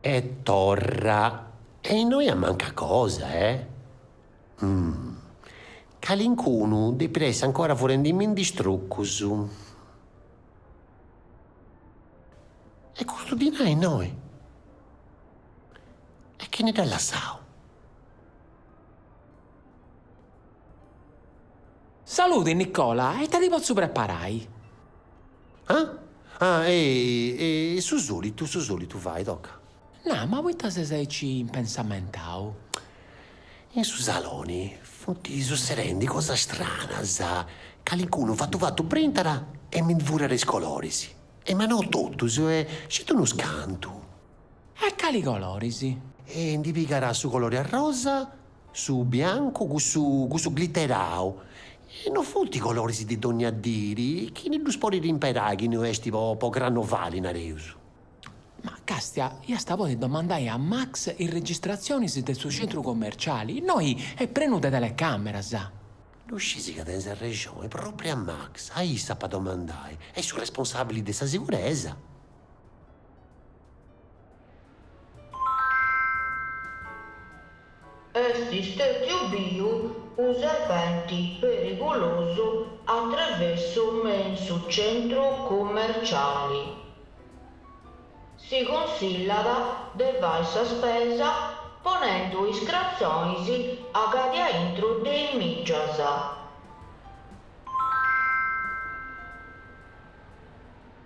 E torra, e innoi amancat cosa, eh? Umm. Calincunu depit essi ancora furendi-mi-ndi is trucus. E custu dinai innoi? E chini dd'at lassau? Saludi Nicola, e ita ti potzu preparai? Ah? Ah, ehi, su solitu, su solitu fai, toca. Nah, ma poita ses aici impensamentau? In su saloni funt sussedendi cosas stranas, calincunu fatu fatu brintat e mi ndi furat is coloris, e ma no totus, sceti unus cantu. E cali coloris? E ndi pigat su colori arrosa. Su biancu cussu cussu glitterau. E no funt coloris de dogna diri chi ddus podit imperai chi no est po po crannovali, nareus. Ma càstia iast a podi domandai a Max is registratzionis de su centru commerciali, innoi est prenu de telecàmeras. Ddu scisi ca tenis arrexoni, pròpriu a Max, a issu ap'a domandai, est su responsàbili de sa siguresa. Est stètiu biu unu serpenti perigulosu a trevessu me in su centru cummerciali. Si cunsillat de fai sa spesa ponendu is cratzonis acadia aintru de is mìgias.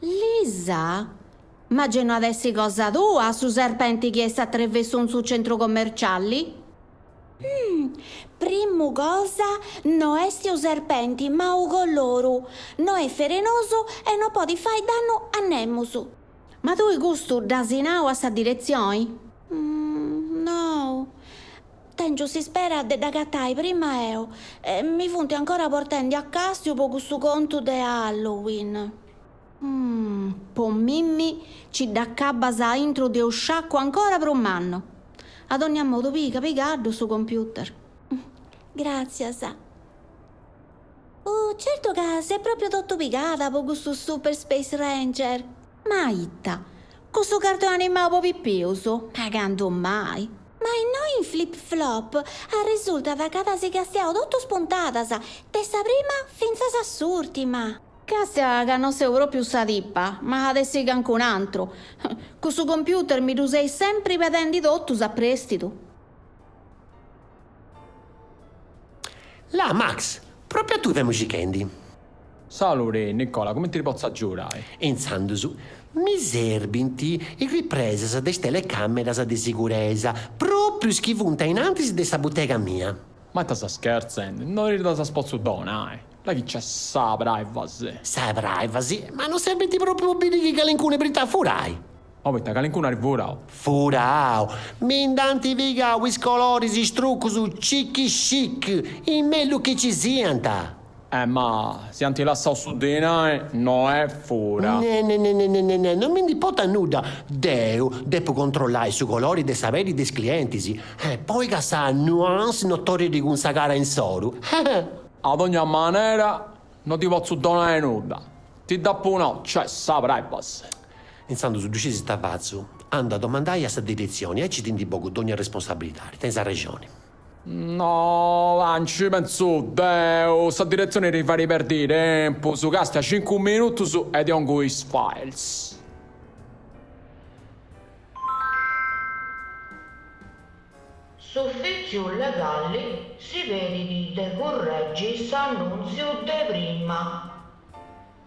Lisa, Ma gei no at essi cosa tua su serpenti chi est a trevessu in su centru commerciali? Hum, primu cosa no est unu serpenti ma unu coloru, no est ferenosu e no podit fai dannu a nemus. Ma tui custu dd'asi nau a sa diretzioni? Hum, no. Tèngiu s'ispera de dd'agatai prima eo, e mi funt ancora portendi a càstiu po cussu contu de Halloween. Po mimi ci dd'acabbas a intru de unu sciacu ancora prus mannu. A dònnia modu piga pigaddu su computer. Gràtzias. Uh, certu ca s'est pròpriu totu pigada po cussu Super Space Ranger! Ma ita, cussu cardu animau po pipius? Ma candu mai! Ma innoi in Flip Flop arresultat ca ddas castiaus totus puntadas, de sa prima fintzas a s'ùrtima. Castia ca no seu pròpiu sa tipa, ma at essi cancun antru. Custu computer mi ddu seis sempri pedendi totus a prèstidu. Là Max, pròpiu a tui femu circhendi. Saluri, Nicola, cumenti ti potzu agiudai? Intzandus, mi serbint is ripresas de is telecàmeras de siguresa, pròprius chi funt innantis de sa butega mia. Ma ita ses scherzendi? No ti ddas potzu donai! Là chi nc'est sa privacy! Sa privacy? Ma no serbint pròpriu a biri chi calincunu brintat a furai? Ma poita calincunu at furau. Furau! Mi nd'ant pigau is coloris is trucus chic chic, is mellus chi ci siant. Eh ma si ant lassau su dinai no est fura. Ne ne ne non mi nd'importat nudda, deu depu controllai su colori de sa peddi de is clientis, eh poi ca sa nuance no torrit cun sa cara insoru, eh. A dogna manera no ti potzu donai nudda, ti dd'apu nau nc'est sa privacy. Intzandus ddu scis ita fatzu? Andu a domandai a sa diretzioni, aici ti ndi bogu dogna arresponsabilidadi, tenint s'arrexoni. No, là, nci pentzu deu, sa diretzioni ti fait perdi tempus, castia cincu minutus e ti ongu is files. S'ufìtziu legali si pedit de curregi s'annùntziu de prima.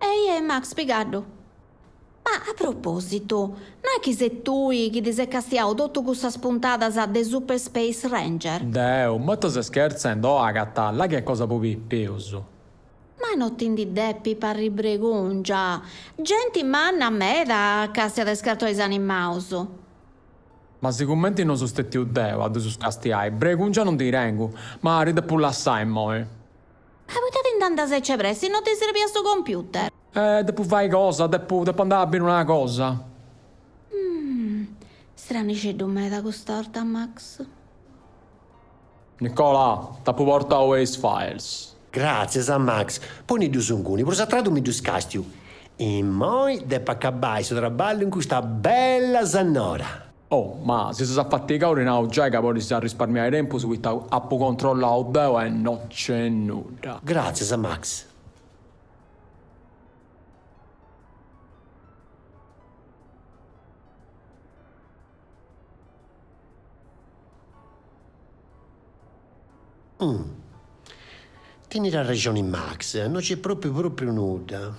Ehi Max pigaddu. Ma a propositu, no est chi ses tui chi ti ses castiau totu cussas puntadas de Super Space Ranger? Deu, ma ita ses schertzendi o acanta, là chi est cosa po pipius. Ma no ti ndi depit parri bregòngia, genti manna meda castiat is cartonis animaus. Ma sicumenti no seu stètiu deu a ddus castiai, bregòngia no ndi tengu, ma ti depu lassai immoi. Poita ti nd'andas aici de pressi? No ti serbiat su computer? Eh, depu fai cosa, depu, depu andai a biri una cosa. Stranixeddu meda cust'orta, Max. Nicola, t'apu portau is files. Gràtzias, Max. Poni-ddus inguni, prus a tradu mi ddus càstiu. Immoi depu acabai su traballu cun custa bella sannora. Oh, ma si ses afatigada ti nau giai ca podis arrisparmiai tempus poita apu controllau deu e no nc'est nudda. Gràtzias, Max. Umm. Tenit arrexoni Max, no nc'est pròpriu pròpriu nudda.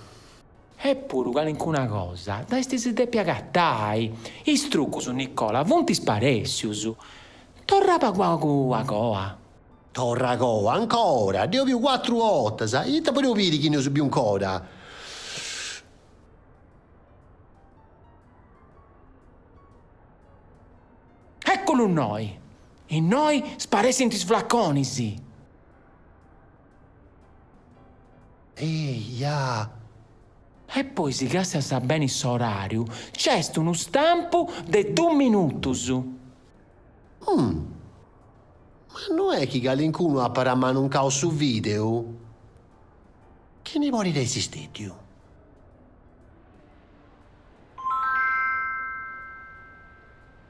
Eppuru calincuna cosa ddu est, si depit agatai. Is trucus, Nicola, funt sparèssius. Torra pagu pagu a coa. Torra a coa ancora. Dd'eus biu cuatru 'ortas. Ita podeus biri chi no eus biu 'ncora? Ecculu innoi! Innoi sparessint is flaconis! Eia! E poi si càstias beni s'orariu c'est unu stampu de dus minutus. Hum! Ma no est chi calincunu apat ammanuncau su videu? Chini podit essi stètiu?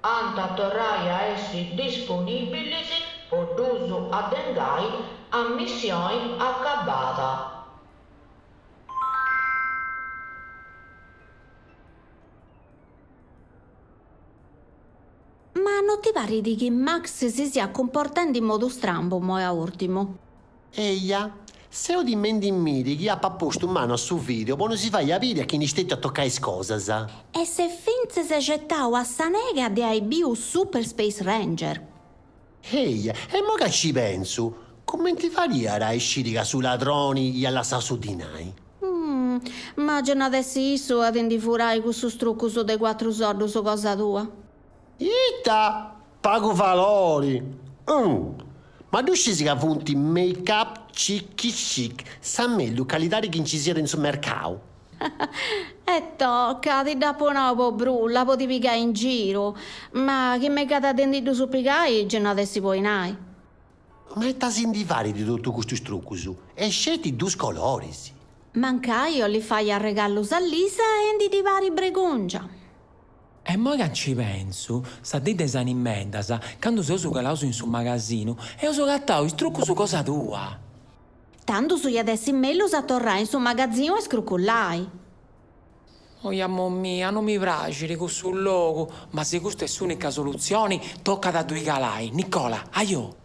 ant a torrai a essi disponìbilis po ddus addengai a missioni acabada. Ma no ti parit chi Max si siat cumportendi in modu strambu immoi a ùrtimu? Eja, seu timendi in miri chi apat postu manu a su videu po no si fai a biri a chini est stètiu a tocai is cosas. E s'est fintzas ghetau a sa nega de ai biu Super Space Ranger. Eja, immoi ca ci pentzu, cumenti fadiat a isciri ca su ladroni iat lassau su dinai? Ma gei non at essi issu a ti ndi furai cussus trucus de cuatru soddus cosa tua. Ita! Pagu valori! Umm! Ma ddu scisi ca funt make up chic chic, sa mellus calidadi chi nci siat in su mercau! E toca, ti dd'apu nau po brulla, po ti pigai in giru, ma chi megat de ndi ddus pigai gei no at essi po dinai! Ma ita si ndi farit de totu custus trucus, e sceti dus coloris! Mancai 'olit fai arregalus a Lisa e ndi ddi parit bregùngia! E moi ca nci pensu, sa dì de is Animeddas, candu seus calaus in su magasinu, eus agatau is trucus cosa tua! Tandus iat essi mellus a torrai in su magazinu a iscrucullai. Oi amo mia, no mi praxit cussu logu, ma si custa est s'unica solutzioni, tocat a ddui calai. Nicola, Ajo!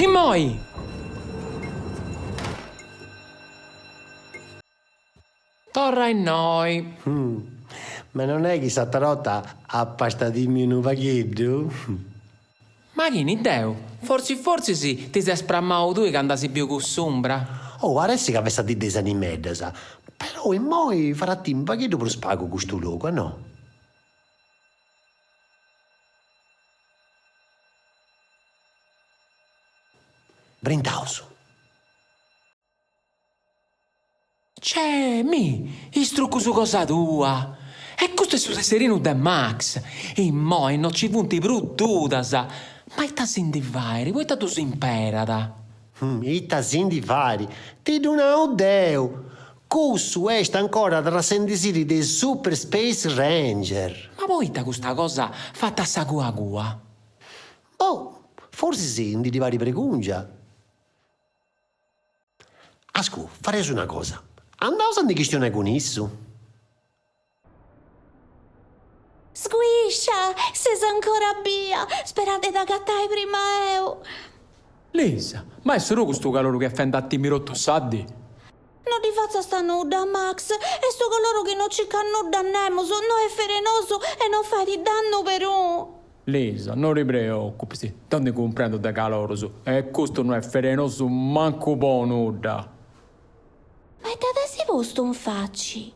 Immoi! Torra innoi! Ma non est chi s'atera 'orta apas tìmiu unu pagheddu? Ma chini deu? Fortzis fortzis ti ses spramau tui candu as biu cuss'umbra? Oh, paressit ca fessat dì de is animeddas. Però immoi fait a timi unu pagheddu prus pagu custu logu, a no? Brindaus. Cè mi' is trucus cosa tua! E custu est su tesserinu de Max! Immoi no ci funt prus dudas! Ma ita si ndi fait, poita ddus imperat? Ita si ndi fait? Ti ddu nau deu! Cussu est ancora trassendisì de is Super Space Ranger! Ma poita custa cosa fata a sa cua cua? Boh! Forsis ndi ddi parit bregùngia! Ascu, fareus una cosa, andaus a ndi chistionai cun issu. Sguiscia! Ses ancora bia! Spera de dd'agatai prima eu! Lisa, Ma est solu custu caloru chi est fendi a timi totu sa dì? No ddi fatzas nudda, Max, est unu coloru chi no circat nudda a nemus, no est ferenosu e no fait dannu perun. Lisa, No ti preocupis, deu ndi cumprendu de calorus e custu no est ferenosu mancu po nudda. Ma ita t'as postu in faci?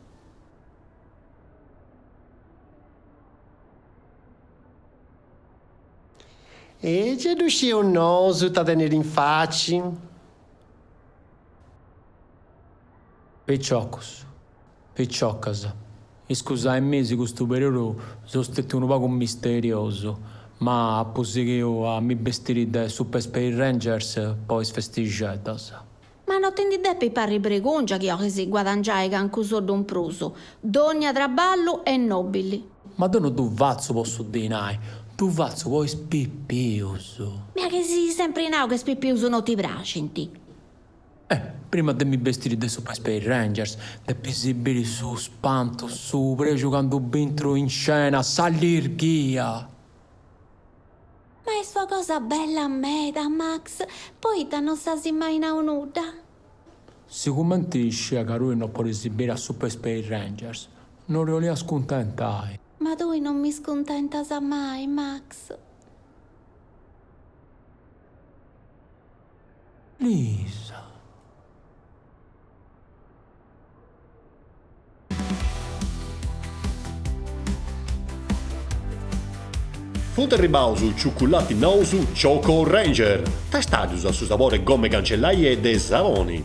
E gei ddu scieus nosu ita tenit in faci. Piciocus. Piciocas, iscusaemì si custu periodu so stetiu unu pagu misteriosu, ma apu sighiu a mi bestiri de Super Space Rangers po is festixeddas. Ma no ti ndi depis parri bregungia chi 'olis guadangiai cancu soddu in prus. Dogna traballu est nobili. Ma deu no ddu fatzu po su dinai, ddu fatzu po is pipius. Ma chi as sempri nau ca is pipius no ti praxint. E, prima de mi bestiri de Super Space Rangers, depis biri su spantu, su prexu candu bintru in scena, s'allirghia! Ma est una cosa bella meda, Max, poita non s'as mai nau nudda? Sigumenti sciia ca tui no podis biri a Super Space Rangers, no ti 'olia scuntentai. Ma tui non mi scuntentas mai, Max. Lisa. Funt arribaus is ciuculatis nous Choco Ranger, tastaddus a su sabori 'e goma 'e cancellai e de saboni.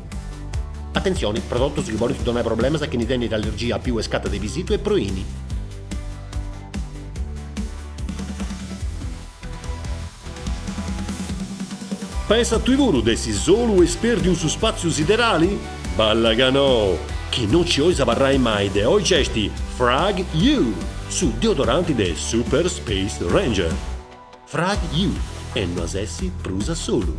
Atentzioni, prodotus chi podint donai problemas a chini tenit allergia a piu e scata de pisitu e proini. Pensas tui puru de essi solu e spèrdiu in su spàtziu siderali? Balla ca no! Chi no nci ois abarrai mai de oi nc'est Frag You, su deodoranti de Super Space Ranger. Frag You e no as essi prus a solu!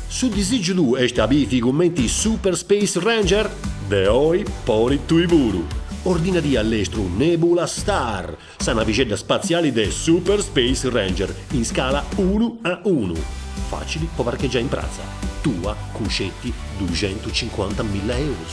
Su disìgiu tuu est a bivi cumenti is Super Space Ranger? De oi podis tui puru! Ordinadì a lestru Nebula Star, sa navixedda spatziali de Super Space Ranger, in scala unu a unu. Fàcili po parchegiai in pratza tua cun sceti duxentucincuantamilla eurus.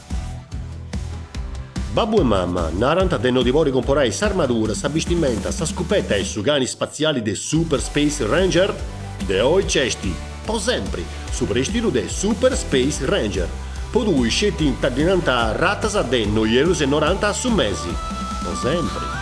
Babbu e mama narant de no ti bolli comporai s'armadura, sa bistimenta, sa scupeta e su cani spatziali de Super Space Ranger? De oi nc'est, po sempri, su prèstidu de Super Space Ranger. Po tui sceti infinidas ratas de noi eurus e noranta a su mesi. Po sempri.